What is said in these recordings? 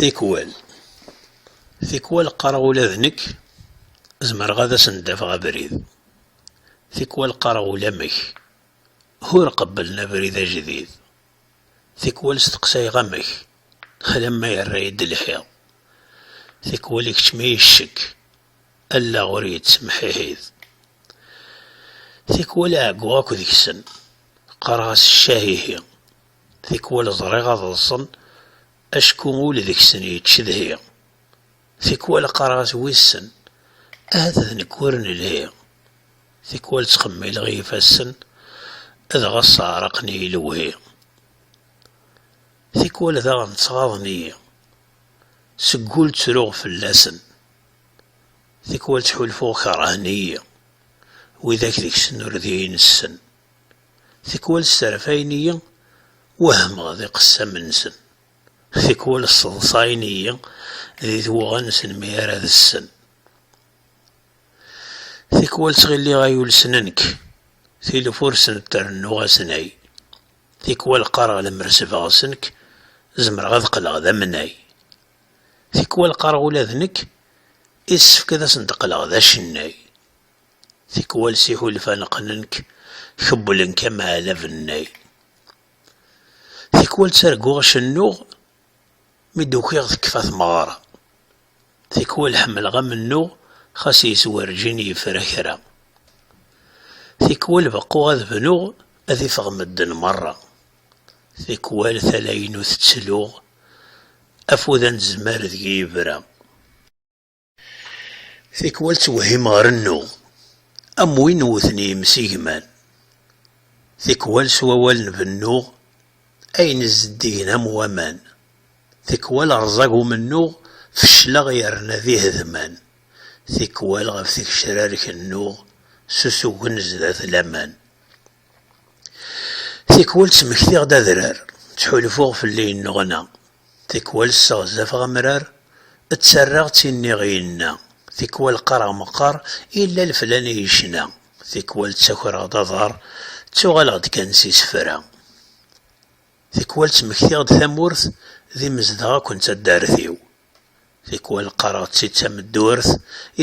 Tikwal. Tikwal qqareɣ ula d nekk zemreɣ ad asen-d-afeɣ abrid. Tikwal qqareɣ ulamek ur qebblen abrid ajdid. Tikwal steqsayeɣ amek alamma yerra-yi-d lḥiḍ. Tikwal ikeččem-iyi ccekk, allaɣ ur yettemḥiḥid. Tikwal ɛegguɣ akk deg-sen, qqareɣ-as ccah ihi, tikwal ẓriɣ ad ḍsen acku ul deg-sen yettcedhi, tikwal qqareɣ-as wissen ahat d nekk ur nelhi, tikwal ttxemmileɣ i yifassen dɣa sseɛraqen-iyi lewhi, tikwal daɣen ttɣaḍen-iyi, seg ul ttruɣ fell-asen. Tikwal ttḥulfuɣ kerhen-iyi widak deg-sen ur d iyi-nessen. Tikwal sserfayen-iyi, wehmeɣ d iqessam-nsen. Tikwal sseḍsayen-iyi d idewɣa-nsen mi ara ad ssen. Tikwal ttɣilliɣ ay ulsen nekk, tilef ur sen-d-trennuɣ asnay. Tikwal qqareɣ lemmer sbeɣsen-k, zemreɣ ad qqleɣ d amnay. Tikwal qqareɣ ula d nekk issefk ad asen-d-qqleɣ d acennay. Tikwal s iḥulfan qqnen-k, kewwlen-k am ɛalabennay. Tikwal ttarguɣ cennuɣ mi d-ukiɣ tekfa tmeɣra. Tikwal ḥemmleɣ amennuɣ xas yes werǧin yefra kra. Tikwal beqquɣ ad bnuɣ ad ifeɣ medden merra. Tikwal tala-inu tettluɣ, afud anezmar deg-i yebra. Tikwal ttwehhimeɣ rennuɣ, am win wwten yimsigman. Tikwal s wawalen bennuɣ, ayen zeddigen am waman. Tikwal rẓag umennuɣ, fecleɣ yerna d ihedman. Tikwal ɣef tgecrar kennuɣ, s usugen zdat laman. Tikwal ttmektiɣ-d adrar, ttḥulfuɣ fell-i yenneɣna, tikwal sseɣzafeɣ amrar, ttarraɣ d tin nniɣ yenna, tikwal qqareɣ meqqar yella leflan i yecna, tikwal ttakreɣ-d aḍar, ttuɣaleɣ-d kan s isefra. Tikwal ttmektiɣ-d tamurt d imezdaɣ akk n taddart-iw, tikwal qqareɣ-tt-id tameddurt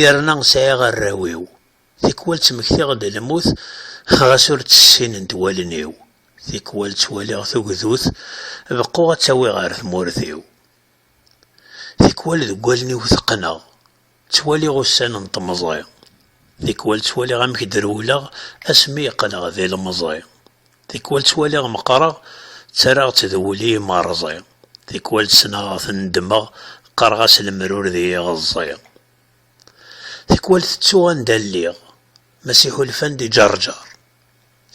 yerna sɛiɣ arraw-iw, Tikwal ttmektiɣ-d lmut ɣas ur tt-ssinent wallen-iw, tikwal ttwaliɣ tugdut beqquɣ ad tawi ɣer tmurt-iw, tikwal deg wallen-iw teqqneɣ, ttwaliɣ ussan n temẓi, tikwal ttwaliɣ amek d-rewleɣ asmi yeqqneɣ d ilemẓi, tikwal ttwaliɣ meqqreɣ ttarraɣ-tt d wul-i imerẓi, tikwal ttnaɣeɣ-t neddmeɣ qqareɣ-as lemrur d yiɣeẓẓi. Tikwal tettuɣ anda lliɣ, Mass Iḥulfan-d i Ǧerǧer.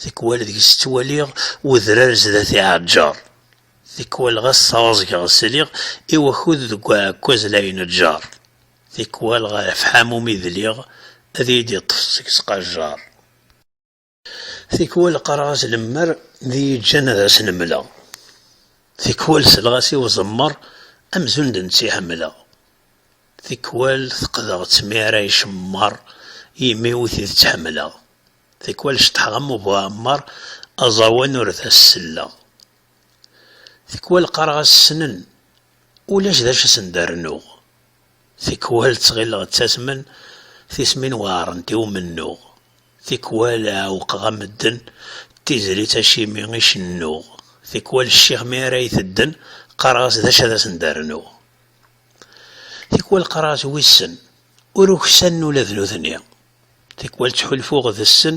Tikwal deg-s ttwaliɣ Wedrar zdat iɛeǧǧer. Tikwal ɣas sɛuẓgeɣ sliɣ I wakud deg uɛekkaz la ineǧǧer. Tikwal ɣer ḥamum i dliɣ Ad iyi-d-iṭṭef seg-s qajjer. Tikwal qqareɣ-as lemmer d iyi-ǧǧan ad as-nemleɣ. Tikwal selleɣ-as i uẓemmer amzun d netta i ḥemmleɣ. Tikwal feqdeɣ-tt mi ara icemmer yimi ur t-id-tt ḥemmleɣ. Tikwal ceṭḥeɣ am ubu ɛemmer aẓawan ur d as-selleɣ. Tikwal qqareɣ-as ssnen ulac d acu asen d-rennuɣ. Tikwal ttɣilleɣ ttasmen tismin weɛrent i umennuɣ. Tikwal ɛewqeɣ-a medden d tizlit acimi i cennuɣ, tikwal cciɣ mi ara yi-tedden, qqareɣ-as d acu ad asen-d-rnuɣ. Tikwal qqareɣ-as wissen, ur uksanen ula d nutni. Tikwal ttḥulfuɣ d sen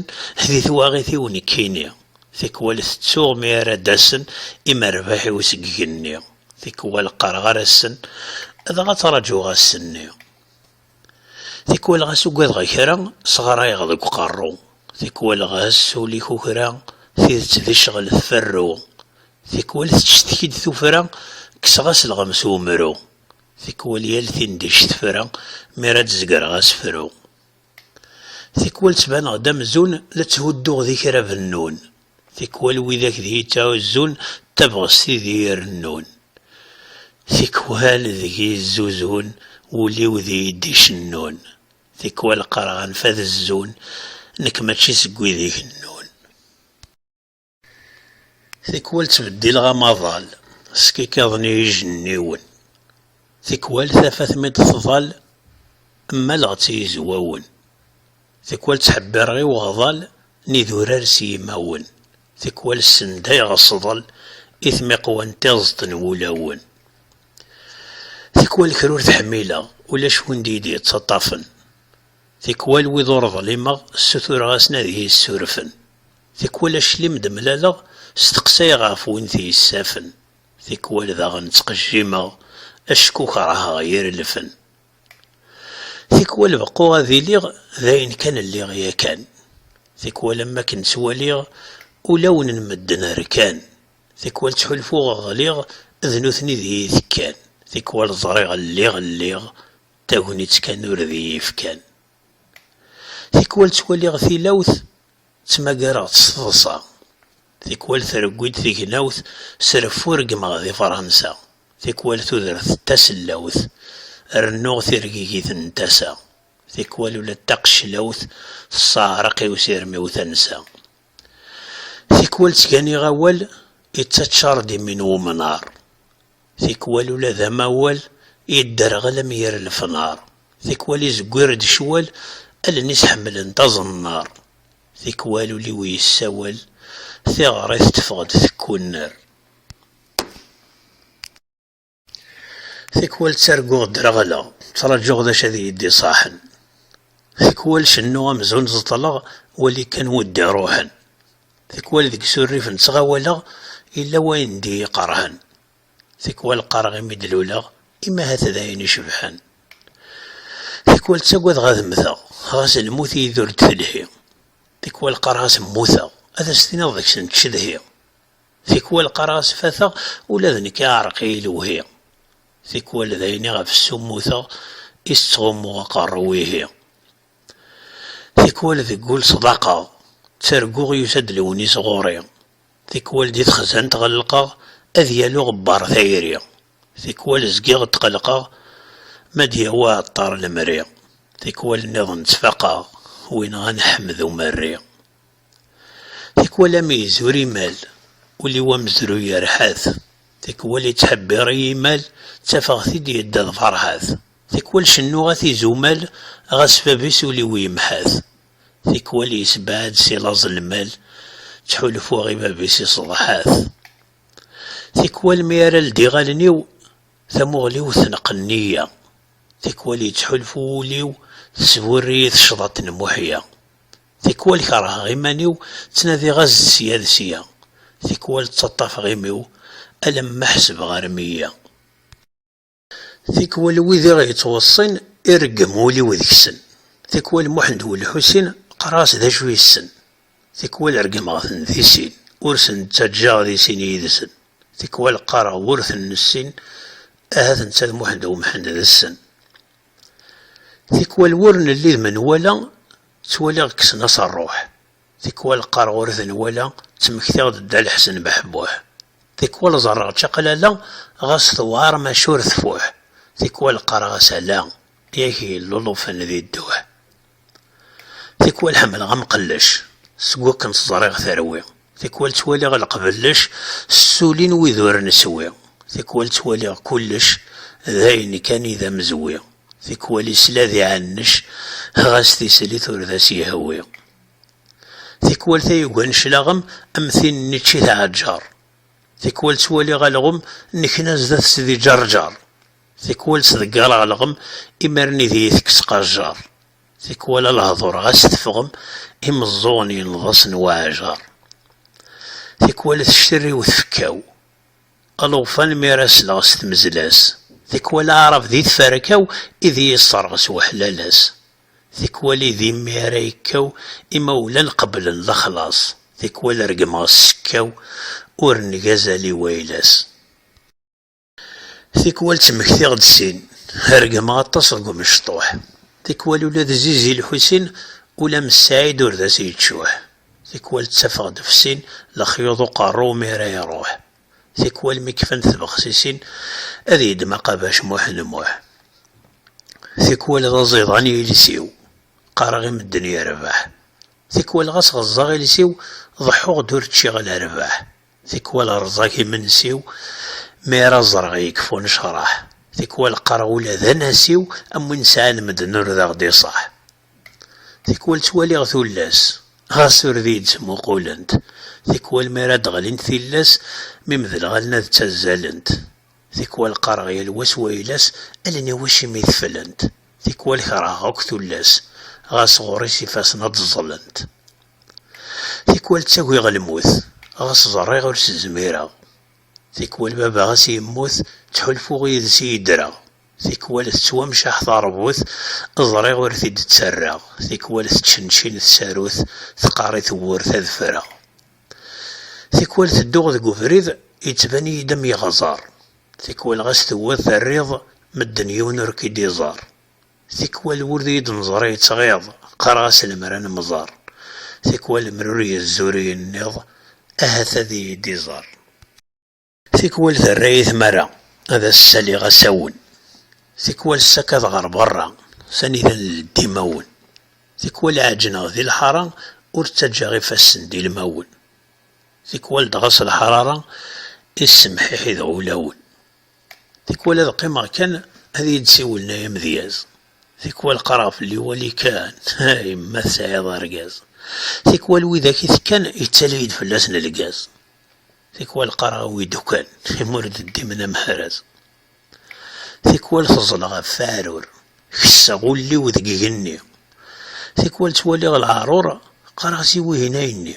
di twaɣit-iw nekkini, tikwal tettuɣ mi ara d-asen imerbaḥ-iw seg igenni, tikwal qqareɣ ar assen, dɣa ttraǧuɣ ass-nni. Tikwal ɣas ugadeɣ kra, sɣarayeɣ deg uqerru, tikwal ɣas ul-ik ukra, tidet d ccɣel tferru, tikwal tettcetki-d tufra, kkseɣ-as lɣem s umru, tikwal yal tindict tefra, mi ara d-zegreɣ asefru. Tikwal ttbaneɣ-d amzun la tthudduɣ di kra bennun. Tikwal widak deg yettɛuzzun d tabɣest i deg irennun, tikwal deg yezzuzun wul-iw deg d-icennun, tikwal qqareɣ anef ad zzun nekk mačči seg wid ikennun. Tikwal ttbeddileɣ amaḍal skikaḍen i yijenniwen, tikwal tafat mi d-tḍal mmaleɣ-tt i yizwawen. Tikwal ttḥebbireɣ i uɣḍal n idurar s yimawen, tikwal ssendayeɣ asḍel i tmiqwa n tiẓeḍt n wulawen. Tikwal kra ur t-ḥmileɣ, ulac win d-iyi-d-yettaṭṭafen. Tikwal wid ur ḍlimeɣ ssutureɣ-asen ad iyi-ssurfen. Tikwal aclim i d-mlaleɣ steqsayeɣ ɣef win t-yessafen. Tikwal daɣen ttqejjimeɣ acku kerheɣ irelfen. Tikwal beqquɣ ad iliɣ d ayen kan lliɣ yakan, tikwal am wakken ttwaliɣ ulawen n medden rkan, tikwal ttḥulfuɣ ɣliɣ d nutni d iyi-tekkan, tikwal ẓriɣ lliɣ lliɣ tagnit kan ur d iyi-fkan. Tikwal ttwaliɣ tilawt ttmagareɣ-tt s teḍsa. Tikwal trewwi-d tegnawt s reffu reggmeɣ di Fransa, tikwal tudert d tasellawt rennuɣ tirgigit n tasa, tikwal ula d taqeclawt tesseɛreq i usirem-iw tansa. Tikwal ttganiɣ awal ittaččar-d imi n umnar, tikwal ula d amawal yedderɣel am yir lefnar, tikwal izewwir-d ccwal allen-is ḥemmlent aẓennar. Tikwal ul-iw yessawel, tiɣrit teffeɣ-d tekkunner. Tikwal ttarguɣ ddreɣleɣ, ttraǧuɣ d acu ad iyi-d-iṣaḥen. Tikwal cennuɣ amzun ẓeṭleɣ, wali kan wi d-iruḥen. Tikwal deg isurrif n ttɣawaleɣ, yella wayen d-iyi-iqerḥen. Tikwal qqareɣ imi d-luleɣ, imi ahat d ayen icebḥen. Tikwal ttagadeɣ ad mmteɣ, ɣas lmut i-yi-d ur d-telhi. Tikwal qqareɣ-as mmuteɣ, ad as-tiniḍ deg-s nettcedhi. Tikwal qqareɣ-as fateɣ, ula d nekk iɛreq-iyi lewhi. Tikwal d ayen iɣef ssummuteɣ, i s-ttɣummuɣ aqerru-w ihi. Tikwal deg wul sḍaqeɣ, ttarguɣ yusa-d lewnis ɣur-i. Tikwal di texzant ɣellqeɣ ad yali uɣebbar tayri, tikwal zgiɣ tqelqeɣ ma d-yawi uɛeṭṭar lemri, tikwal nniḍen ttfaqeɣ win ɣan ḥmed umerri. Tikwal ameyyez ur imal, ul-iw amezruy yerḥa-t, tikwal ittḥebbiṛ i yimal, ttafeɣ-t-id yedda d farḥat, tikwal cennuɣ-at izumal, ɣas bab-is ul-iw yemḥa-t. Tikwal yessebɛed si laẓ lmal, ttḥulfuɣ i bab-is iṣeḍḥa-t. Tikwal mi ara ldiɣ allen-iw, tamuɣli-w tneqqen-iyi. Tikwal yettḥulfu wul-iw, tesburr-iyi tecḍaṭ n Muḥya. Tikwal kerheɣ iman-iw, ttnadiɣ-as-d sya d sya. Tikwal ttaṭṭafeɣ imi-w, alamma ḥesbeɣ rmiya. Tikwal wid i ɣ-yettweṣṣin, ireggem wul-iw deg-sen. Tikwal Muḥend Wul Ḥusin, qqareɣ-as d acu yessen. Tikwal reggmeɣ-ten di sin, ur sen-ttaǧǧaɣ di sin yid-sen. Tikwal qqareɣ ur ten-nessin, ahat netta d Muḥend U Mḥend d ssen. Tikwal wur nelli d menwala, ttwaliɣ kksen-as rruḥ. Tikwal qqareɣ ur t-nwala, ttmektiɣ-d Dda Lḥsen Beḥbuḥ. Tikwal ẓerreɣ čaqlala, ɣas tewɛer maca ur tfuḥ. Tikwal qqareɣ-as ala, yak yellulufen di dduḥ. Tikwal ḥemmleɣ amqellec, seg wakken tt-ẓriɣ terwi. Tikwal ttwaliɣ lqbellec, ssulin wid ur neswi. Tikwal ttwaliɣ kullec, d ayen kan i d amezwi. Tikwal isla d iɛanec, ɣas tislit ur d as-yehwi. Tikwal tayuga n cclaɣem am tin n ičči tɛeǧǧer. Tikwal ttwaliɣ alɣem n kna zdat-s d iǧerǧer. Tikwal ttḍeggareɣ alɣem imarni d iyi-tekkes qajjer. Tikwal a lehdur ɣas teffɣem imeẓẓuɣen yenneḍ-asen waɛjar. Tikwal tectirriw tfekka-w. Llufan mi ara sleɣ s tmezla-s, tikwal aɛrab di tferka-w i d iyi-yesserɣ s weḥlal-as, tikwal i d imi ara yekkaw imawlan qeblen lexlaṣ, tikwal regmeɣ s sekkaw ur neg azal i wayla-s, tikwal ttmektiɣ-d sin, regmeɣ aṭas deg umecṭuḥ, tikwal ula d Zizi Lḥusin ula am Ssaɛid ur d as-yeččuḥ, Tikwal ttafeɣ-d ɣef sin lexyuḍ uqerru mi ara iruḥ. Tikwal mi kfant tbexsisin ad yeddem aqabac Muḥend Muḥ. Tikwal d aẓiḍan yiles-iw, qqareɣ i medden yerbeḥ. Tikwal ɣas ɣeẓẓaɣ iles-iw ḍeḥḥuɣ-d ur ččiɣ lerbaḥ. Tikwal rẓag imensi-w mi ara ẓreɣ yekfa unecraḥ. Tikwal qqareɣ ula d anasiw am win sɛan medden ur d aɣ-d-iṣaḥ. Tikwal ttwaliɣ tullas, ɣas ur d iyi-d-ttmuqulent, tikwal mi ara d-ɣlint tillas, mi medleɣ allen-ad ttazzalent, tikwal qqareɣ yal wa s wayla-s, allen-iw acimi teflent, tikwal kerheɣ akk tullas, ɣas ɣur-i s ifassen ad d-ẓẓlent. Tikwal ttagiɣ lmut, ɣas ẓerriɣ ur s-zmireɣ, tikwal baba ɣas yemmut, ttḥulfuɣ yid-s i yeddreɣ, Tikwal tettwamceḥ terbut, ẓriɣ ur t-id-ttarraɣ, tikwal tettcencin tsarut, teqqar i tewwurt ad ffreɣ. Tikwal tedduɣ deg ubrid, yettban-iyi-d am yeɣẓer, tikwal ɣas tewwiḍ terriḍ, medden yiwen ur k-id-iẓer. Tikwal wul iyi-d-neẓra yettɣiḍ, qqareɣ-as lemmer ad nemẓer, tikwal lemmer ur yezzi ur yenniḍ, ahat ad iyi-d-iẓer. Tikwal terra-yi tmara ad as-saliɣ asawen. Tikwal ssakad ɣer berra, s anida n leddi imawen. Tikwal ɛeǧǧneɣ di lḥara, ur ttaǧǧaɣ ifassen d ilmawen. Tikwal dɣa s lḥarara i ssemḥiḥideɣ ulawen. Tikwal ad qqimeɣ kan ad iyi-d-siwlen ay amedyaz. Tikwal qqareɣ fell-i wali kan, ay ma tesɛiḍ argaz. Tikwal widak i tekkan, yettali-yi-d fell-asen lgaz. Tikwal qqareɣ i uidukan imi ur d-ddimen am hraz. Tikwal teẓleɣ ɣef weɛrur, kesseɣ ul-iw deg igenni. Tikwal ttwaliɣ leɛrur, qqareɣ-as i wihin ayenni.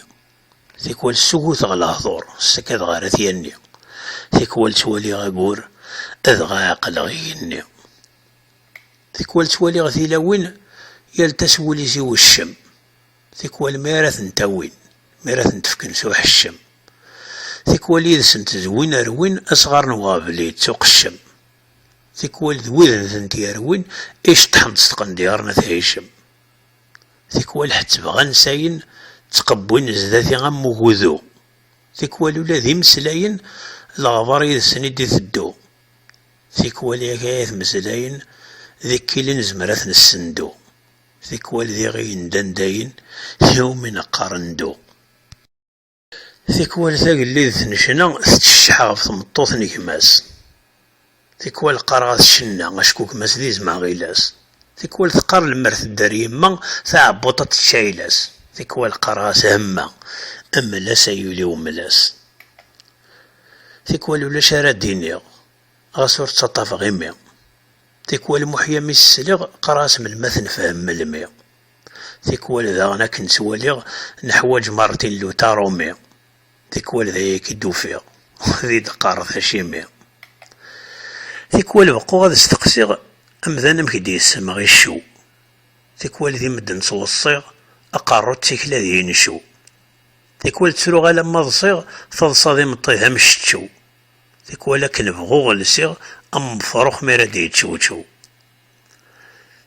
Tikwal ssuguteɣ lehdur, ssakadeɣ ar at yanni. Tikwal ttwaliɣ agur, dɣa ɛeqleɣ igenni. Tikwal ttwaliɣ tilawin, yal ta s wul-is i uccem. Tikwal mi ara tent-awin, mi ara tent-fken s uḥeccem, tikwal yid-sent d win rwin asɣar n uɣbel-id s uqeccem, tikwal d widen tent-yerwin iceṭṭḥen-t s tqendyar n at Hicem, tikwal ḥettbeɣ ansayen ttqewwin zdat-i am ugudu, tikwal ula d imeslayen leɣbar yid-sen i d-iteddu, tikwal yak ay at meslayen d ikkil i nezmer ad ten-ssendu. Tikwal diɣ i yendan dayen, tiwmin qqaren ndu. Tikwal tagellidt n ccna tettcecceḥ ɣef tmeṭṭut n gma-s. Tikwal qqareɣ-as cenna, acku gma-s d izem aɣilas. Tikwal teqqar lemmer tedder yemma, taɛebbuṭ ad tečč ayla-s. Tikwal qqareɣ-as hemma, mmel-as ay ul-iw mmel-as. Tikwal ulac ara d-iniɣ, ɣas ur ttaṭṭafeɣ imi. Tikwal Muḥya mi s-sliɣ qqareɣ-as melmi ad t-nefhem melmi. Tikwal daɣen akken ttwaliɣ neḥwaǧ Martin Luta Rumi. Tikwal d aya i d-ufiɣ ad yi-d-qqareḍ acimi. Tikwal beqquɣ ad steqsiɣ amdan amek d-yessemɣ iccu. Tikwal di medden ttweṣṣiɣ aqerru d tikla d incu. Tikwal ttruɣ alamma ḍsiɣ taḍsa d imeṭṭi d amceččew. Tikwal akken bɣuɣ lsiɣ am wefrux mi ara d-yeččewčew.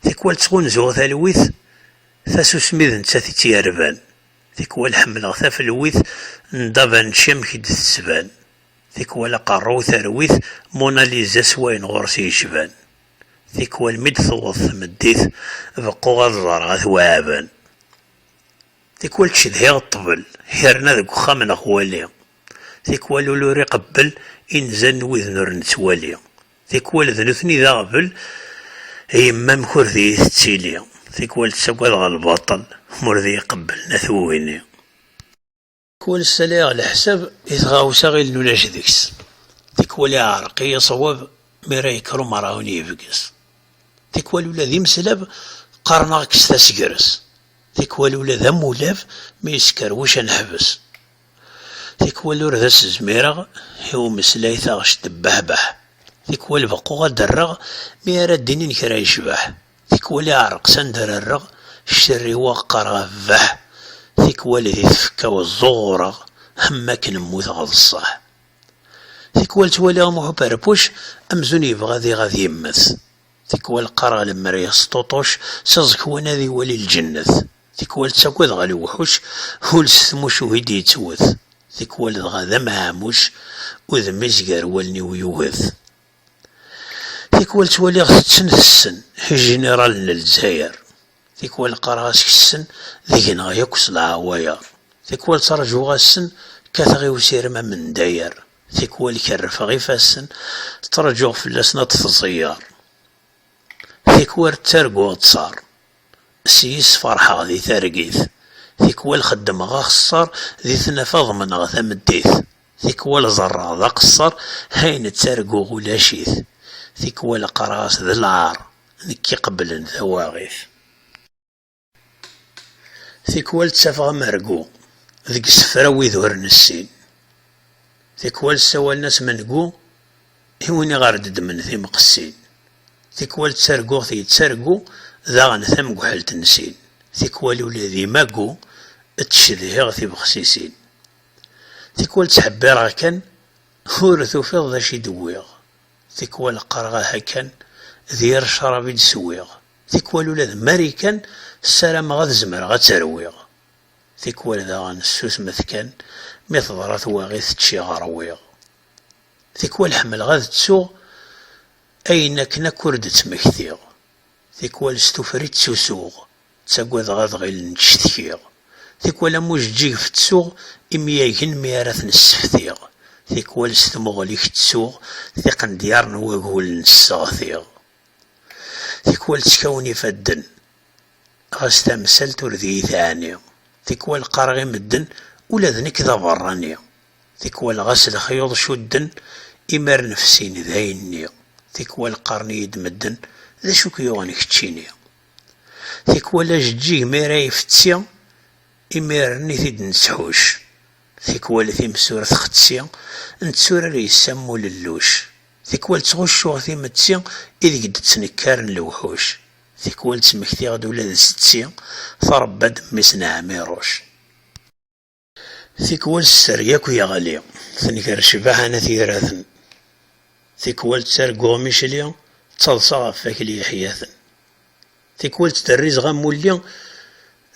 Tikwal ttɣunzuɣ talwit, tasusmi d nettat i tt-yerban. Tikwal ḥemmleɣ tafelwit n Da Vinci amek i d-tettban. Tikwal aqerruy terwi-t Mona Lisa s wayen ɣur-s yecban. Tikwal mi d-tewweḍ tmeddit beqquɣ ad ẓreɣ At Waɛaben. Tikwal ttcedhiɣ ṭṭbel, hirna deg uxxam neɣ wali. Tikwal ul ur iqebbel inzan n widen ur nettwali, tikwal d nutni d aɣbel, yemma amek ur d iyi tettili, tikwal ttagadeɣ lbaṭel ma ur d iyi qebblen at wewini. Tikwal ssalayeɣ leḥsab i tɣawsa ɣilen ulac deg-s, tikwal iɛreq iyi ṣṣwab mi ara yekker umerɛun yebges, tikwal ula d imeslab qqaren-aɣ kkset asegres, tikwal ula d amulab mi yeskerwec ad neḥbes. Tikwal ur d as-zmireɣ i umeslay taɣect tebbehbeḥ, tikwal beqquɣ ad d-rreɣ mi ara d-inin kra yecbeḥ, tikwal iɛreq s anda ara rreɣ ccerriweɣ qqareɣ abbeḥ, tikwal di tfekka-w ẓẓuɣureɣ am wakken mmuteɣ d ṣṣeḥ. Tikwal ttwaliɣ Muḥu Perpuc amzun yebɣa diɣ ad yemmet, tikwal qqareɣ lemmer yesṭuṭuc s aẓekwan ad iwali lǧennet. Tikwal ttaggadeɣ a lewḥuc, ul s tmucuh i d-yettwet, tikwal dɣa d ameɛmuc, udem izger wallen-iw yuget. Tikwal ttwaliɣ tetten tessen, ijiniṛalen n Lezzayer, tikwal qqareɣ askesen, degneɣ yakk s leɛwayeṛ, tikwal ttraǧuɣ assen, kkateɣ i usirem amendayer, tikwal kerrfeɣ ifassen, ttraǧuɣ fell-asen ad d-tẓeyyeṛ. Tikwal ttarguɣ ttṣar, s yis ferḥeɣ di targit, tikwal xeddmeɣ axeṣṣar di tnafa ḍemneɣ tameddit, tikwal ẓerreɣ d aqeṣṣar hayen ttarguɣ ulac-it, tikwal qqareɣ-as d lɛar nekk iqebblen tawaɣit. Tikwal ttafeɣ amergu deg isefra wid ur nessin. Tikwal ssawalen-as mengu i win iɣer d-ddmen timqessin. Tikwal ttarguɣ-t yettargu daɣen tamguḥelt n sin. Tikwal ula d imagu ttcedhiɣ tibexsisin. Tikwal ttḥebbireɣ kan ur tufiḍ d acu i d-wwiɣ. Tikwal qqareɣ aha kan d yir ccrab i d-swiɣ. Tikwal ula d Marikan ssarameɣ ad zemreɣ ad tt-rwiɣ. Tikwal daɣen ssusmet kan, mi teḍra twaɣit ččiɣ rwiɣ. Tikwal ḥemmleɣ ad ttuɣ ayen akken akk ur d-ttmektiɣ. Tikwal s tufri ttusuɣ, ttagadeɣ ad ɣilen ttcetkiɣ. Tikwal am ujeǧǧig fettsuɣ imyagen mi ara ten-sseftiɣ. Tikwal s tmuɣli-k ttuɣ tiqendyar n wagul n-sseɣtiɣ. Tikwal ttkawen ifadden, ɣas tamsalt ur d iyi-teɛni. Tikwal qqareɣ i medden, ula d nekk d aberrani. Tikwal ɣas lexyuḍ cudden, imir nefsin d ayenni. Tikwal qqaren-iyi-d medden, d acu k-yuɣen keččini? Tikwal ajeǧǧig mi ara ifetti, imir-n i t-id-nettḥucc. Tikwal timsurt xetti, netturar yes-s am ulelluc. Tikwal ttɣuccuɣ timetti ideg d-ttnekkaren lewḥuc, tikwal ttmektiɣ-d ula d setti tṛebba-d mmi-s n Ɛmiruc. Tikwal sser yakk yeɣli, tenger ccbaḥa n at Yiraten, tikwal ttarguɣ mi cli, ttaḍsaɣ ɣef wakli yeḥyaten, tikwal ttderrizeɣ amulli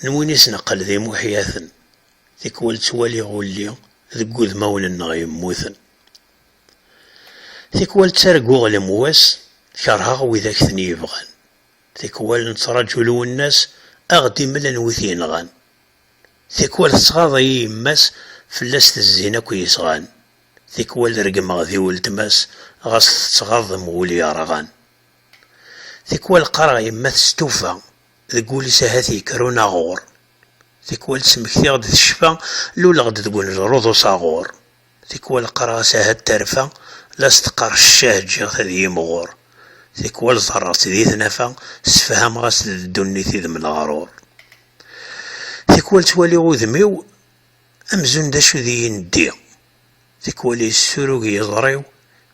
n win i s-neqqel d imuḥyaten, tikwal ttwaliɣ ulli deg wudmawen-nneɣ yemmuten. Tikwal ttarguɣ lemwas, kerheɣ widak ten-yebɣan. Tikwal nettraǧu Lwennas a ɣ-d-imlen wi t-yenɣan. Tikwal tettɣaḍ-iyi yemma-s, fell-as tezzin akk yesɣan. Tikwal regmeɣ di weltma-s, ɣas tettɣaḍ am wul yerɣan. Tikwal qqareɣ yemma testufa, deg wul-is ahat yekker unaɣur. Tikwal ttmektiɣ-d tecfa, luleɣ-d deg uneẓrud usaɣur. Tikwal qqareɣ-as ahat terfa, la as-teqqar ccah ǧǧiɣ-t ad yimɣur. Tikwal ẓerreɣ-tt di tnafa, ssefhameɣ-as-d d ddunit i d mleɣrur. Tikwal ttwaliɣ udem-iw amzun d acu di yenddi, tikwal yessurug yiẓri-w,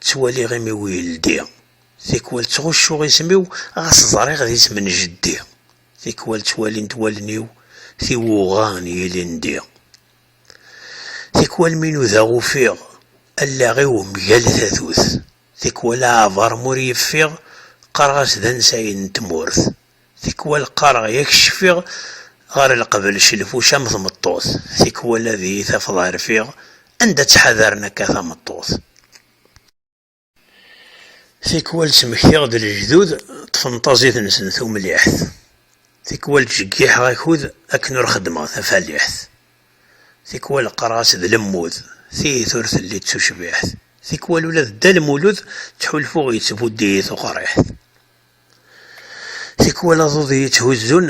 ttwaliɣ imi-w yeldi. Tikwal ttɣuccuɣ isem-iw ɣas ẓriɣ d isem n jeddi, tikwal ttwalint wallen-iw tiwuɣa n yilindi. Tikwal mi nudaɣ ufiɣ allaɣ-iw mgal tatut, tikwal aɛbar mur yeffiɣ qqareɣ-as d ansay n tmurt, tikwal qqareɣ yak cfiɣ ɣer lqebl celfuc am tmeṭṭut, tikwal ad iyi-tafeḍ rfiɣ anda ttḥadaren akka tameṭṭut. Tikwal ttmektiɣ-d lejdud ṭṭfen taẓit-nsen tumliḥt, tikwal ttjeggiḥeɣ akud akken ur xeddmeɣ tafaliḥt, tikwal qqareɣ-as d lemmud, tiyit ur telli d tucbiḥt, tikwal ula d Dda Lmulud ttḥulfuɣ yettbuddi-yi tuqriḥt. Tikwal aḍud i yi-tthuzzun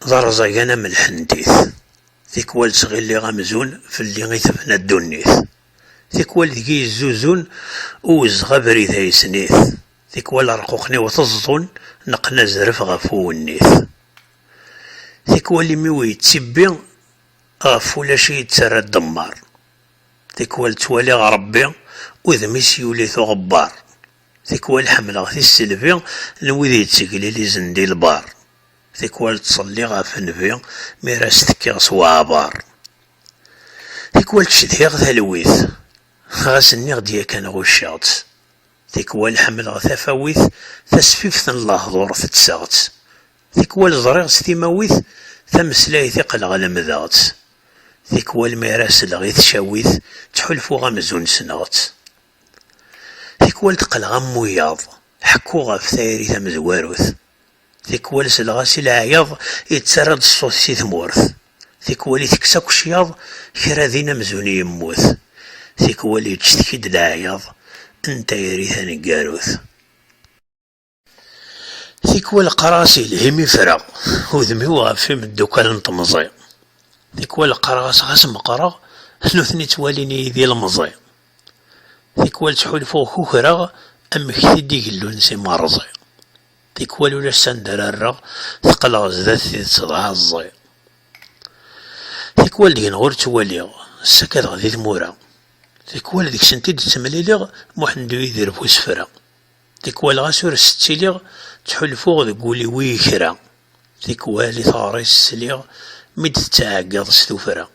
d arẓagan am lḥentit, tikwal ttɣilliɣ amzun fell-i i tebna ddunit. Tikwal deg-i yezzuzun uwezɣ abrid ay snit, tikwal arquqen-iw teẓḍun neqqen azref ɣef uwennit. Tikwal imi-w yettibbi ɣef ulac i yi-d-terra ddemmaṛ, tikwal ttwaliɣ Ṛebbi udem-is yuli-t uɣebbaṛ, tikwal ḥemmleɣ tisselbi n wid yetteglilizen di lbaṛ, tikwal ttṣelliɣ ɣef nnbi mi ara as-tekkiɣ s weɛbaṛ. Tikwal cedhiɣ talwit, ɣas nniɣ-d yakan ɣucceɣ-tt. Tikwal ḥemmleɣ tafawit, tasfift n lehdur tettseɣ-tt. Tikwal ẓriɣ s timawit, tameslayt iqleɣ lemdeɣ-tt. Tikwal mi ara sleɣ i tcawit, ttḥulfuɣ amzun ssneɣ-tt. Tikwal d-qqleɣ am wiyaḍ, ḥekkuɣ ɣef tayri tamezwarut. Tikwal selleɣ-as i leɛyaḍ yettarra-d ṣṣut si tmurt, tikwal itekkes akk cyaḍ kra din amzun yemmut, tikwal yeǧǧet-k-id leɛyaḍ n tayri taneggarut. Tikwal qqareɣ-as yelhi mi ffreɣ udem-iw ɣef imeddukal n temẓi, tikwal qqareɣ-as ɣas meqqreɣ nutni ttwalin-iyi d ilemẓi, tikwal ttḥulfuɣ kukreɣ amek-t-id i gellun s imerẓi. Tikwal ulac s anda ara rreɣ, teqqleɣ zdat tidet d aɛeẓẓi. Tikwal deg-neɣ ur ttwaliɣ, ssakadeɣ di tmura. Tikwal deg-sent i d-ttemliliɣ, Muḥend-uyi di rref usefra. Tikwal ɣas ur s-ttiliɣ, ttḥulfuɣ deg wul-iw i kra. Tikwal i teɣri-s sliɣ, mi d-tettɛeggiḍ s tufra.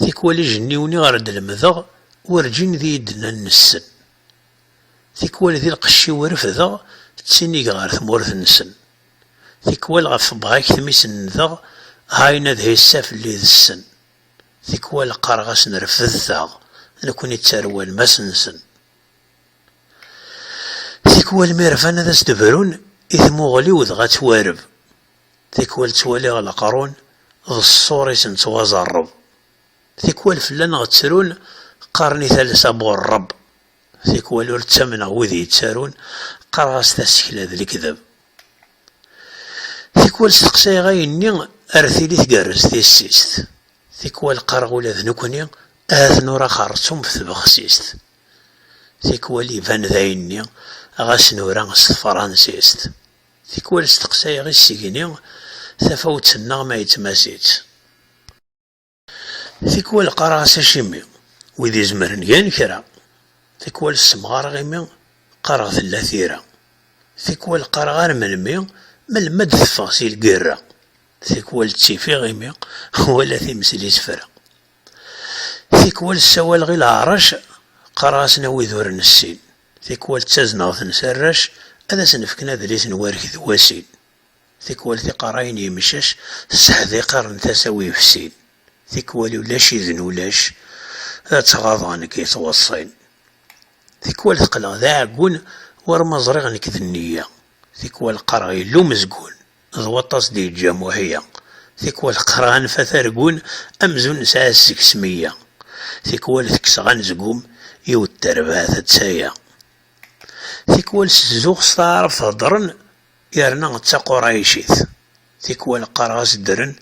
Tikwal ijenniwen i ɣer d-lemdeɣ, werǧin d iyi-d-nnan nessen. Tikwal di lqecc-iw refdeɣ, ttinigeɣ ɣer tmurt-nsen. Tikwal ɣef tebɣa-k tmi senndeɣ, hayen ad hissa fell-i d ssen. Tikwal qqareɣ-asen refdet-aɣ, nekni d tarwa-lmas-nsen. Tikwal mi rfan ad as-d-brun i tmuɣli-w dɣa ttwareb. Tikwal ttwaliɣ leqrun d ṣṣur-isen ttwaẓerreb. Tikwal fell-aneɣ ttrun, qqaren i talsa bu rreb. Tikwal ur ttamneɣ wid yettarun, qqareɣ-as tasekla d lekdeb. Tikwal steqsayeɣ ayenni ar tili tgerrez tissist. Tikwal qqareɣ ula d nekkni ahat nura xerrtum f tbexsist. Tikwal iban d ayenni ɣas nura s tefransist. Tikwal steqsayeɣ isegni tafawet-nneɣ ma yettmasitt. Tikwal qqareɣ-as acimi, wid izemren gan kra. Tikwal ssemɣareɣ imi qqareɣ tella tira. Tikwal qqareɣ ar melmi, melmi ad d-teffeɣ si lgirra. Tikwal ttifiɣ imi wala times n isefra. Tikwal ssawaleɣ i leɛrac, qqareɣ-asen a wid ur nessin. Tikwal ttazneɣ-ten s arrac, ad asen-fken adlis n warek d wasin. Tikwal tiqerra-yi n yimcac tesseḥdiqer n tasa-w yefsin, tikwal ulac-iden ulac, ad tt-ɣaḍeɣ nekk i tweṣṣin. Tikwal teqqleɣ d aɛeggun war ma ẓriɣ nekk d nniya, tikwal qqareɣ yella umezgun d waṭas d-yeǧǧa Muḥya, tikwal qqareɣ anfat argun amzun nesɛa seg-s meyya, tikwal tekkseɣ anezgum yiwet terbaɛt d taya. Tikwal ssezzuɣ s taɛrabt heddren Yerna d taqurɛicit, tikwal qqareɣ-as ddren,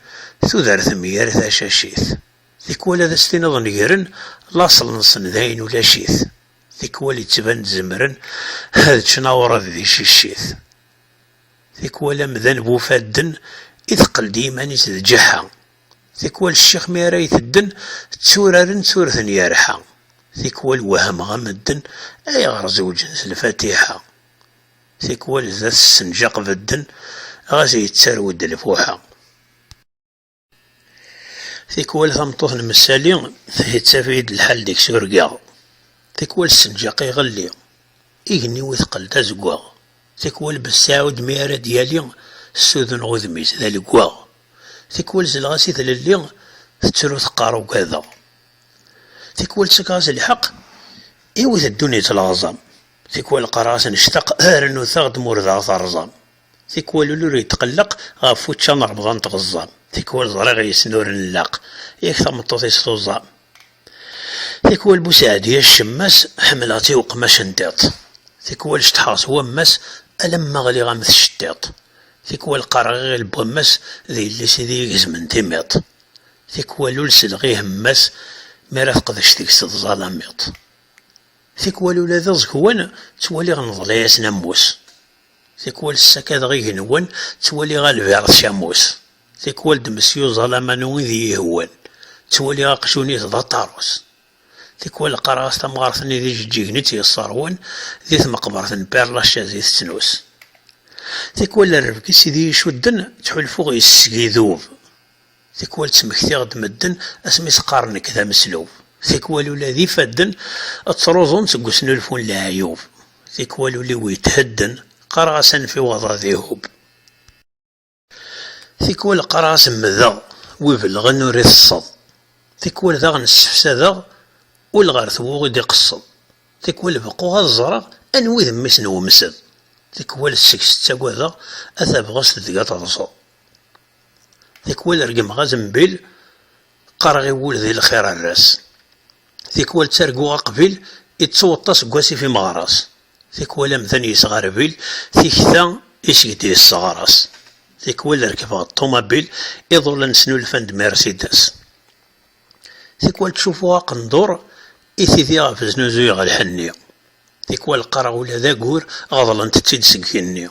tudert mger tacacit, tikwal ad as-tiniḍ negren, laṣel-nsen dayen ulac-it, tikwal yettban-d zemren ad ččen awṛad di ciccit, tikwal amdan bu ufadden iteqqel-d i yiman-is d ǧeḥḥa, tikwal ccix mi ara itedden tturaren ttures n yerḥa, tikwal wehmeɣ a medden ayɣer zewǧen s lfatiḥa. Tikwal d at ssenǧaq bedden, ɣas yettarew-d lfuḥa. Tikwal tameṭṭut n Messali yettaf-iyi-d lḥal deg-s urgaɣ. Tikwal ssenǧaq iɣelli, igenni-w iteqqel d azeggaɣ. Tikwal Besɛud mi ara d-yali ssuduneɣ udem-is d aleggaɣ. Tikwal zleɣ-as i tlelli tettru teqqar ugadeɣ. Tikwal ttakeɣ-as lḥeqq, iwwet ddunit leɣẓam. Tikwal qqareɣ-as nectaq, rrnut-aɣ-d ma ur d aɣ-terẓam. Tikwal ul ur yetqelleq, ɣef učča n remḍan tɣeẓẓam. Tikwal ẓriɣ yes-n ur nlaq, yak tameṭṭut-is tuẓam. Tikwal bu Seɛdiya ccemma-s, ḥemmleɣ-tt i uqmac n tiṭ. Tikwal ceṭḥeɣ s wamma-s, alamma ɣliɣ am tceṭṭiṭ. Tikwal qqareɣ iɣil n wamma-s, d yelli-s i d-iyi-gezmen timiṭ. Tikwal ul selleɣ i hemma-s, mi ara teqdec deg-s tẓalamiṭ. Tikwal ula d iẓekwan ttwaliɣ neḍla-yasen ammus, tikwal ssakadeɣ igenwan ttwaliɣ Albert d Camus, tikwal d Mesyu Zalamanu i d iyi-ihewwan, ttwaliɣ aqjun-is d aṭarus, tikwal qqareɣ-as tamɣart-nni d ijeǧǧigen i tt-yesseṛwun di tmeqbert n Père Lachaise i tettnus, tikwal rrebg-is i d iyi-icudden ttḥulfuɣ yes-s idub. Tikwal ttmektiɣ-d medden asmi s-qqaren nekk d ameslub. Tikwal ula d ifadden ttruẓun-d seg usnulfu n leɛyub. Tikwal ul-iw yethedden, qqareɣ-as anef-iw ad aḍ-ihub. Tikwal qqareɣ-as mmdeɣ, wi ibellɣen ur iteṣṣeḍ. Tikwal daɣen ssefsadeɣ ul ɣer twuɣi d-iqeṣṣeḍ. Tikwal beqquɣ ad ẓreɣ anwa i d mmi-s n wemsed. Tikwal seg-s ttagadeɣ a tabɣest deg ad terẓeḍ. Tikwal regmeɣ azembil, qqareɣ i wul di lxir err-as. Tikwal ttarguɣ aqbil, iţţuweṭṭa seg wasif imeɣras. Tikwal amdan yesɣa rrbil, tikta i seg d-yesseɣres. Tikwal rekbeɣ ṭṭumabil, iḍulan snulfan-d Mercedes. Tikwal ţţufuɣ aqendur, i tidi ɣef znuzuyeɣ lḥenni. Tikwal qqareɣ ula d agur, ɣeḍlent-ţ-id seg igenni.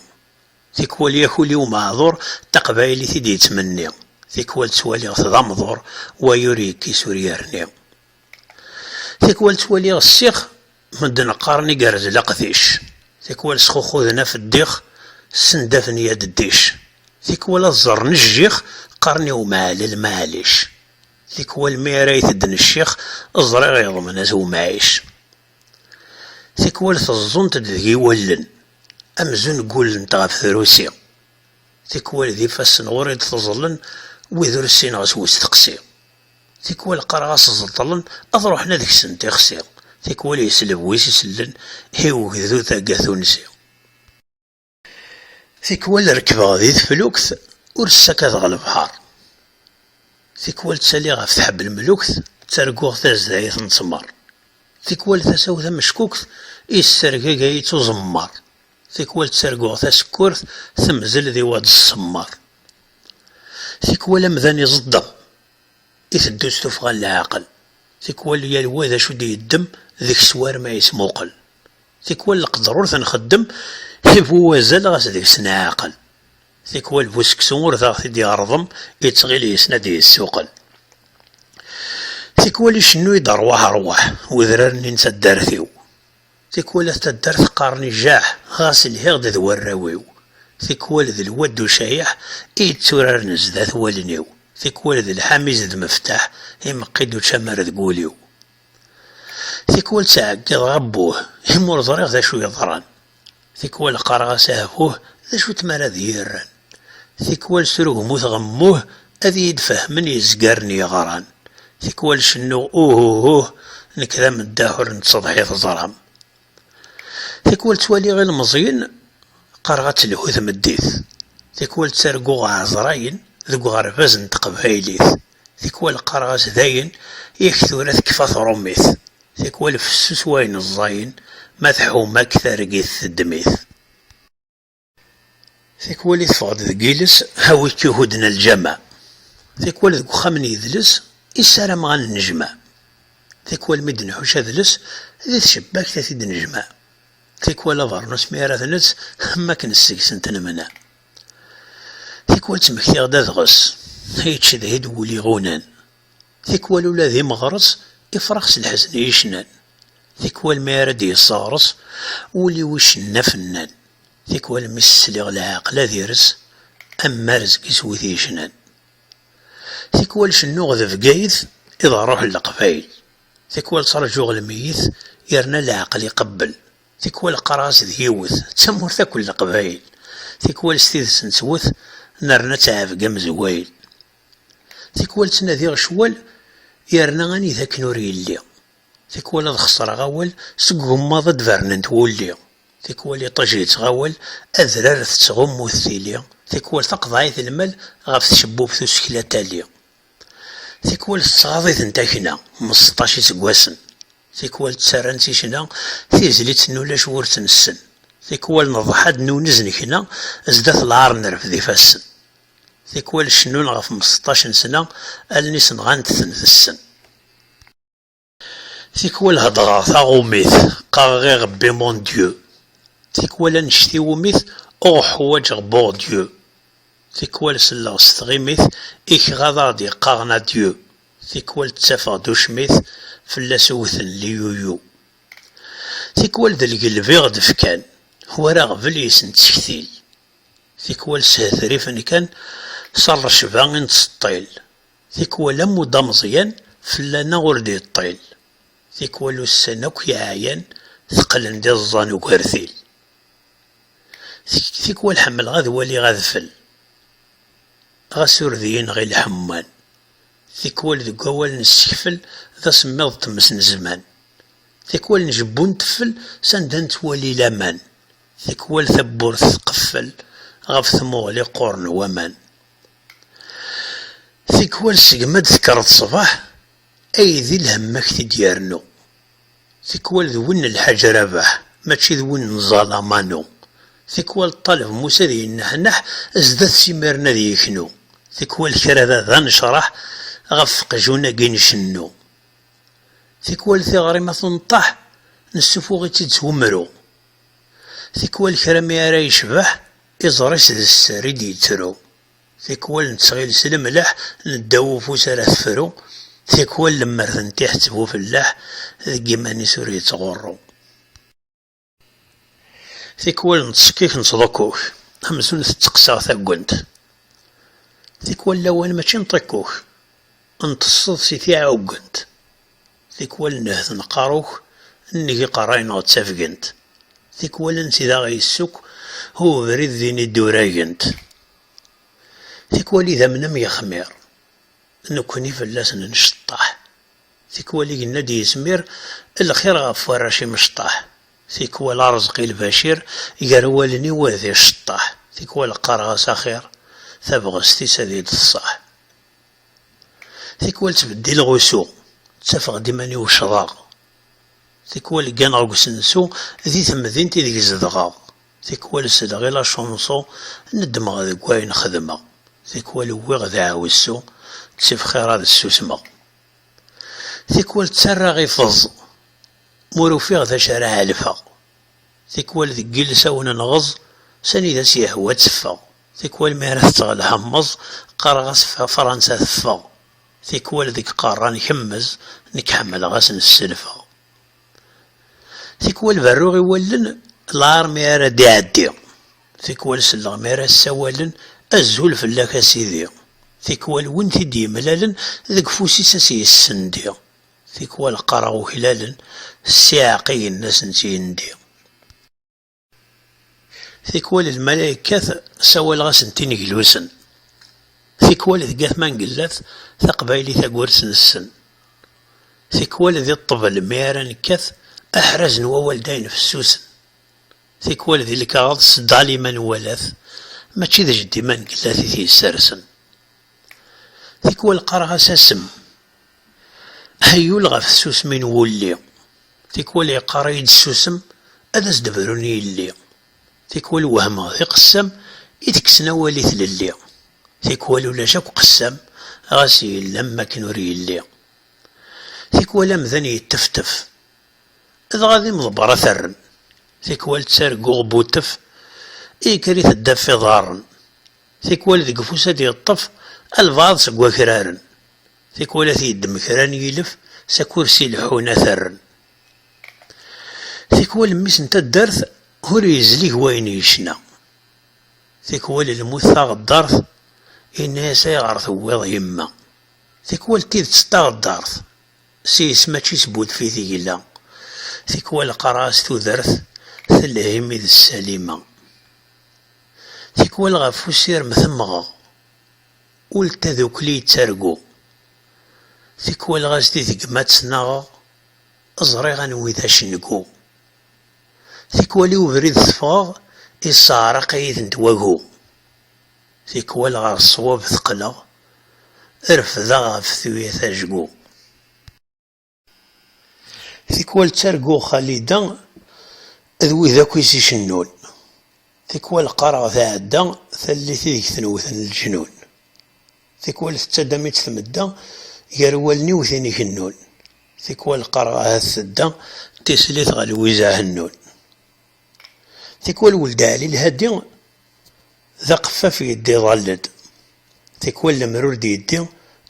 Tikwal yak ul-iw meɛdur, d taqbaylit i d-yettmenni, tikwal ttwaliɣ-t d amḍur, way ur yekkis ur yerni. Tikwal ttwaliɣ ssix, medden qqaren igerrez leqdic, tikwal sxuxuden af ddix, ssendafen ya dddic, tikwal ad ẓerren jjix, qqaren i umɛellel maɛlic, tikwal mi ara itedden ccix, ẓriɣ yeḍmen-as umɛic. Tikwal teẓẓunt-d deg-i wallen, amzun ggulent ɣef trusi. Tikwal d ifassen ɣur-i d-teẓẓlen wid ur ssineɣ s westeqsi. Tikwal qqareɣ-as ẓeṭṭlen ad ruḥen ad kksen tixsi. Tikwal yesleb wis isellen i ugdud aggatunsi. Tikwal rekkbeɣ di teflukt ur ssakadeɣ lebḥer, tikwal ttaliɣ ɣef tḥebblemlukt ttarguɣ tazdayt n ttmer, tikwal tasa-w tameckukt yessergagay-itt uẓemmer, tikwal ttarguɣ tasekkurt temzel di waḍ ṣṣemmer, tikwal amdan iẓeddem iteddu s tuffɣa n leɛqel, tikwal yal wa d acu d-yeddem deg-s war ma yesmuqel. Tikwal leqder ur t-nxeddem, i bu wazal ɣas deg-s neɛqel. Tikwal bu seksu ur taɣ t-id-iɣerḍem, ittɣil yessen ad d-yessuqel. Tikwal icennu-yi-d rwaḥ rwaḥ, udrar-nni n taddart-iw. Tikwal at taddart qqaren ijaḥ, ɣas lhiɣ-d d warraw-iw. Tikwal d lwad ucayeḥ, i yetturaren zdat wallen-iw. Tikwal d lḥamiz d meftaḥ, imeqqi-d ucamar deg wul-iw. Tikwal ttɛeggiḍeɣ abbuh imi ur ẓriɣ d acu yeḍran. Tikwal qqareɣ-as ahbuh d acu n tmara d yirran. Tikwal srugmuteɣ mmuh ad iyi-d-fehmen yezgaren yeɣran. Tikwal cennuɣ uhuhuh nekk d ameddaḥ ur nettseḍḥi teẓram. Tikwal ttwaliɣ ilemẓiyen qqareɣ ad telhu tmeddit, tikwal ttarguɣ ɛezrayen deg uɣerbaz n teqbaylit, tikwal qqareɣ-as dayen yak tura tekfa trummit, tikwal fessus wayen ẓẓayen ma tḥuma-k targit teddem-it. Tikwal i teffeɣ-d deg yiles Hawi k ihudden a lǧameɛ Tikwal deg uxxam n yidles I ssarameɣ a nennejmeɛ Tikwal mi d-nḥuc adles Di tcebbakt a t-id-nejmeɛ Tikwal abernus mi ara t-netz Am akken seg-sen t-nemneɛ Tikwal ttmektiɣ-d adɣes I yettcedhi-d wul iɣunan Tikwal ula d imeɣres ifrax s lḥezn i yecnan, Tikwal mi ara d-yesseɣres wul-iw icenna fennan, Tikwal mi s-sliɣ leɛqel ad ires am marezg-is wid yecnan, Tikwal cennuɣ d Bgayet i d rruḥ n Leqbayel, Tikwal ttraǧuɣ lmeyyet yerna leɛqel iqebbel, Tikwal qqareɣ-as d yiwet d tamurt akk n Leqbayel, Tikwal s tidet nettwet nerna ttɛebga mezwayel. Tikwal ttnadiɣ ccwal yerna anida akken ur yelli. Tikwal ad xesreɣ awal seg ugemmaḍ ad d-bernent wulli. Tikwal iṭij yettɣawal adrar tettɣummut tili. Tikwal taqeḍɛit n lmal ɣef tcebbubt usekla tali. Tikwal tettɣaḍ-iten takna mm seṭṭac iseggasen. Tikwal ttarran-tt i ccna tizlit n ulac wur tt-nessen. Tikwal neḍḥa-d nunez nekna zdat lɛar nerfed ifassen. Tikwal cennun ɣef mseṭṭac n sna, allen-is nɣant-ten tessen. Tikwal heddreɣ taṛumit, qqareɣ irebbi mon Dieu. Tikwal annect iwumi-t ur ḥwaǧeɣ bour Dieu. Tikwal selleɣ s tɣimit i kra ad aɣ-d-yeqqaren adieu. Tikwal ttafeɣ-d ucmit, fell-as wwten liyuyu. Tikwal d lgelb i ɣ-d-fkan, war aɣbel yes-s nettektil. Tikwal shetrifen kan s rrecba i nettseṭṭil, tikwal ammud ameẓyan fell-aneɣ ur d-yeṭṭil, tikwal ussan akk yeɛyan teqqlen d iẓẓan ugertil, tikwal ḥemmleɣ ad waliɣ adfel ɣas ur d-yenɣi lḥemman, tikwal deg wawal nessekfel d asemmiḍ n tmes n zzman, tikwal njebbu nteffel s anda nettwali laman, Tikwal tawwurt tqeffel ɣef tmuɣli qquren waman. Tikwal segmi ad d-tekkreḍ ṣṣbeḥ, aydi lhemm a k-t-id-yernu. Tikwal d win n Lḥaǧ Rabeḥ, mačči d win n Zala Manu. Tikwal ṭṭaleb Musa ad yenneḥneḥ zdat-s imiren ad yeknu. Tikwal kra da d anecraḥ ɣef qjun-agi ncennu. Tikwal tiɣri ma tunṭeḥ, nessufuɣ-itt-id s umru. Tikwal kra mi ara yecbeḥ, iẓer-is d sser i d-yettru. Tikwal nettɣil s lemleḥ n ddaw ufus ara tefru, tikwal lemmer tentiḥeţ bu felleḥ, deg iman-is ur yeţɣurru. Tikwal neţsekkik neţḍukkuk, amzun teţqeseɣ taggent. Tikwal lawan mačči n ṭikkuk, nṭeṣṣeḍ si tiɛuggent. Tikwal nnehhet n qqaru-k nnig iqerra ineɣ d tafgent. Tikwal ansi d aɣ yessuk u ubrid din i d-uragent. Tikwal idamnem yexmir, nekkni fell-asen nceṭṭaḥ. Tikwal i yenna-d yizmir lxir ɣef warrac imecṭaḥ. Tikwal areẓq i lbacir gar wallen-iw ad iceṭṭaḥ. Tikwal qqareɣ-as axir, tabɣest-is ad yi-d-tṣaḥ. Tikwal ttbeddileɣ usu, ttafeɣ-d iman-iw ccḍeɣ. Tikwal gganeɣ deg usensu di temdint ideg zedɣeɣ. Tikwal seleɣ i lačunṣu, neddmeɣ deg wayen xedmeɣ. Tikwal uwiɣ deɛwessu, ttif xir ad ssusmeɣ. Tikwal ttarraɣ i feẓ, m'ur ufiɣ d acu ara ɛelfeɣ. Tikwal deg yilsawen n ɣeẓ, s anida s-yehwa ad teffeɣ. Tikwal mi ara tetteɣ lḥemmeẓ, qqareɣ-as Fransa teffeɣ. Tikwal deg qerra nkemmez, nekk ḥemmleɣ ad sen-sselfeɣ. Tikwal berruɣ i wallen lɛar mi ara d-iɛeddi. Tikwal selleɣ mi ara ssawalen, Azul fell-ak a sidi. Tikwal win t-id-yemlalen, deg ufus-is a s-yessendi. Tikwal qqareɣ uklalen, s iɛeqqigen a sen-tt-yendi. Tikwal d lmalayekkat sawaleɣ-asen tineglusen, tikwal deg at Mangellat taqbaylit agwers nessen, tikwal di ṭṭbel mi ara nekkat aḥraz n wawal d ayen fessusen, tikwal di lkaɣeḍ s Dalima n Walat mačči d jeddi Mangellat i t-yessersen, tikwal qqareɣ-as Asem Aḥeyyul ɣef tsusmi n wulli, tikwal yeqqar-iyi-d ssusem ad as-d-brun yelli, tikwal wehmeɣ d iqessam i tekksen awal i tlelli, tikwal ulac akk qessam ɣas yella am wakken ur yelli, tikwal amdan yetteftef dɣa d imḍebber ad t-rren, tikwal ttarguɣ butef i yekker iteddaf iḍarren, tikwal deg ufus ad d-yeṭṭef albaɛḍ seg wakraren. Tikwal ad t-yeddem kra n yilef s akursi leḥḥun ad t-rren. Tikwal mmi-s n taddart ur yezlig wayen yecna. Tikwal lmut taɣeddart yenna-as ayɣer tewwiḍ yemma. Tikwal d tidet d taɣeddart, s yes mačči s budef i tegla. Tikwal qqareɣ-as tudert telha imi d Salima. Tikwal ɣef usirem temɣeɣ, Ul n tadukli yettargu. Tikwal ɣas di deg-m ad tt-naɣeɣ, ẓriɣ anwi d acengu. Tikwal i ubrid teffɣeɣ, isseɛraq-iyi-tent wagu. Tikwal ɣer ṣṣwab teqqleɣ, refdeɣ ɣef tuyat ajgu. Tikwal ttarguɣ Xalida d wid akk i s-icennun, tikwal qqareɣ tɛedda tallit ideg ten-wten leǧnun, tikwal tettadam-itt tmedda gar wallen-iw tin igennun, tikwal qqareɣ ahat tedda tislit ɣer Lwiza Hennun. Tikwal Weld Ɛli Lhadi d aqeffaf yedda iḍall-d, tikwal lemmer ur d-yeddi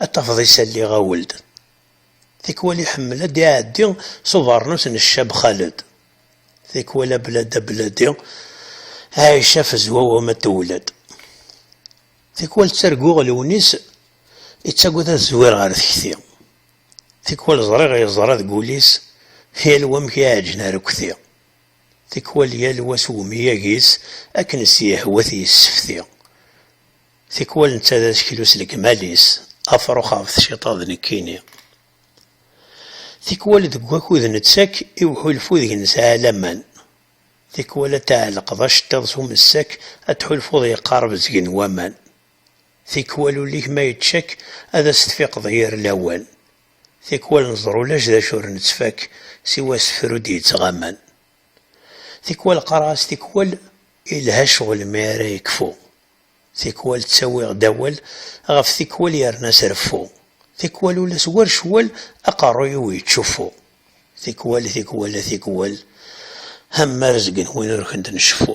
ad tafeḍ isalli ɣawel-d, Tikwal iḥemmel ad d-iɛeddi s ubeṛnus n ccab Xaled, tikwal ablad abladi, Ɛica tezwa wama tewled. Tikwal ttarguɣ Lewnis ittagad ad zwir ɣer tekti, tikwal ẓriɣ yeẓra deg ul-is yal wa amek iɛeǧǧen arekti, tikwal yal wa s umyag-is akken s-yehwa t-yessefti. Tikwal netta d aseklu s legmal-is, afrux ɣef tciṭa d nekkini. Tikwal deg wakud nettak i uḥulfu deg nesɛa laman. Tikwal ad tɛelqeḍ aceṭṭiḍ s umessak ad tḥulfuḍ yeqqareb zeg n waman. Tikwal ul-ik ma yeččak ad as-tfiqeḍ yir lawan. Tikwal neẓra ulac d acu ur nettfak siwa asefru d-yettɣaman. Tikwal qqareɣ-as tikwal yelha ccɣel mi ara yekfu. Tikwal ttawiɣ-d awal, ɣef tikwal yerna s reffu, tikwal ula s war ccwal aqerruy-iw yettcuffu. Tikwal, tikwal, a tikwal, am ma rezgen win ur kent-nceffu.